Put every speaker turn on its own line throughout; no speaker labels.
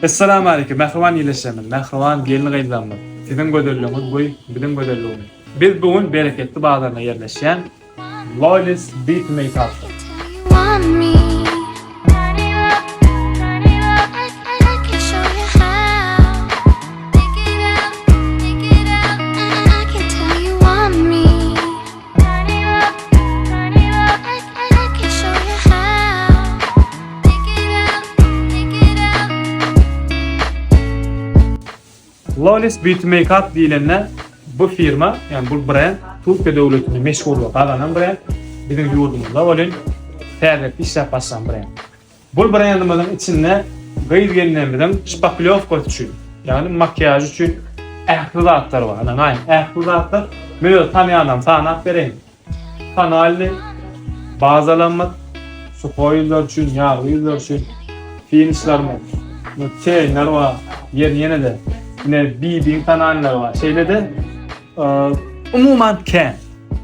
Essalamu aleýkum mähriban ildeşlerimiz, mähriban gelin-gyzlarymyz, siziň gözelligiňiz goý biziň gözelligimiz. Biz bu gün Bereketli bazarynda ýerleşýän Lolis Beauty Makeupda. Flawless Beauty Makeup diýlende bu firma, ýagny bu brend Türkiýe döwletinde meşhurlyk gazanan brend, biziň ýurdumyzda welin täzelikde işläp başlan brend. Bu brendimiziň içinde gyz gelnemiziň şpaklýowkasy üçin, ýagny makiýaž üçin ähli zatlar bar. Ine, aýn ähli zatlar. Men öz tanýanlarymy sanap bereýin. Tonalnyý bazalarymyz, suhoý ýüzler üçin, ýagly ýüzler üçin finişlerimiz, çeýeler bar. Ýeri ýene-de, ine, BB-iň tonalnylary bar. Şeýle-de, umuman kän,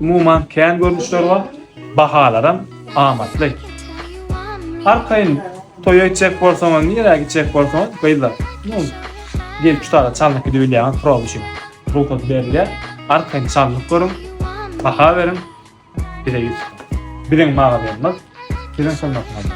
umuman kän görnüşler bar. Bahalaram. Amatly. Arkaýyn toýa gitjek bolsaňyz, nirä gitjek bolsaňyz, gyzlar, nu, gelip şu taýda çalnyp gidip bilýäňiz, proba üçin rugsat berilýär. Arkaýyn çalnyp görüň, baha beriň, bize ýüz tutuň. Biziň magazynymyz siziň hyzmatyňyzda.